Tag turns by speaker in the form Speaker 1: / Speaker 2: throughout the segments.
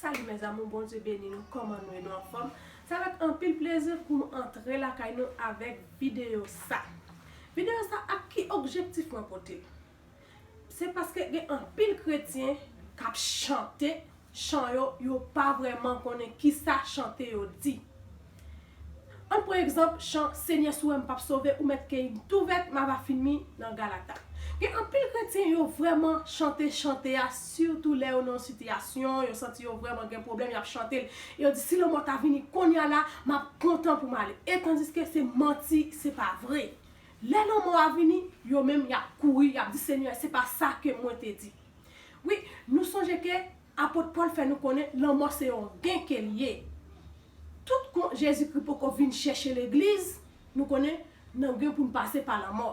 Speaker 1: Salut mes amour Bondye beni nou koman nou ye nou anfom sa vet anpil plezi poum antre lakay nou avek video sa video sa ak ki objektif mwen potel se paske gen anpil kretyen kap chante chan yo, yo pa vrèman konnen ki sa chante yo di. An pran egzanp chan Senyè si w wè m p ap sove ou mèt key m tou vèt m ava fin mi nan Galata. Gen anpil kretyen yo vrèman chante chante a sitou lè yo nan yon sitiyasyon, yo santi yo vrèman gen pwoblèm y ap chante l e yo di si lanmò ta vini konnya la m ap kontan pou m ale e tandiske se manti se pa vre. Lè lanmò a vini, yo menm y ap kouri y ap di Senyè se pa sa ke mwen te di. Wi, nou sonje ke Apot Pòl fè nou konnen lanmò se yon gen ke li ye. Tout kon Jezikri poko vin chèche Legliz, nou konnen, nan gen pou n pase pa lanmò.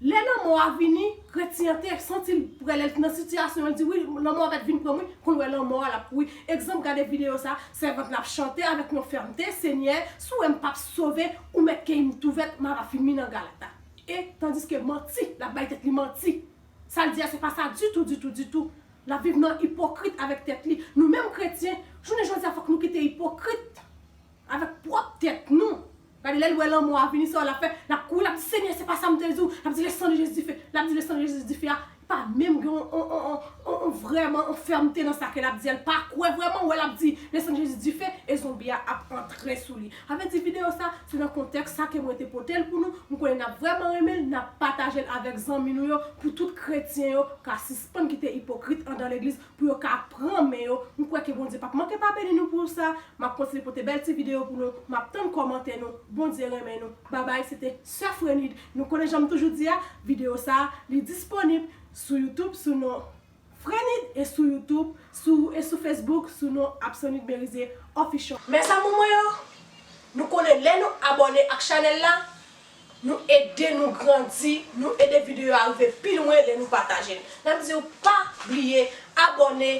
Speaker 1: Lè lanmò a vini, kretyen an te santi l pre, lè l t nan sitiyasyon an, l di, wi, lanmò a mèt vin pran m wi, kou l wè lanmò a, l ap kouri. Egzanp, gade videyo sa a, sèvant la ap chante avèk yon fèmte, Senyè, si w wè m p ap sove, ou mèt keyi m tou vèt, m ava fin mi nan galata. E, tandiske manti, l ap bay tèt li manti. Sa l di a se pa sa ditou, ditou, ditou. L ap viv nan ipokrit avèk tèt li. Nou menm kretyen, jounen jodi a fòk nou kite ipokrit avèk pwòp tèt nou. Gade lè l wè lanmò a vini sa l ap fè? L ap kouri l ap di, Senyè se pa sa m te di w. L ap di le sang de Jezi dife. L ap di le sang de Jezi dife a pa menm gen yon vrèman yon fèmte nan sa ke lap di, el pa kwè vrèman, ou wè lap di le sang de Jésus dife e zonbi a ap antre sou li. Sa vle di video sa, se nan kontèks sa ke mwen te potel pou nou, m konnen nap vrèman renmenl, nap patajel avèk zanmi nou yo pou tout kretyen yo ka sispann kite ipokrit andan legliz pou yo ka pran men yo, m kwè ke Bondye pap manke pa beni nou pou sa, map kontinye pote bèl ti video pou nou, map tann kòmantè nou, Bondye renmen nou, babay se te sè Frenide, nou konnen janm toujou di a, video sa li disponib sou youtube sou non Frenide e sou youtube sou e sou facebook sou non Apsonid Merizier Official. Mes amour mwen yo, nou konnen lè nou abòne ak chanèl la, Nou ede nou grandi, nou ede video yo arive pi lwen lè nou pataje l. Nap diw pa bliye abòne,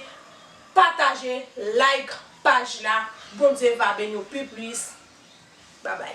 Speaker 1: pataje, like paj la. Bondye va beniw pi plis. Babay.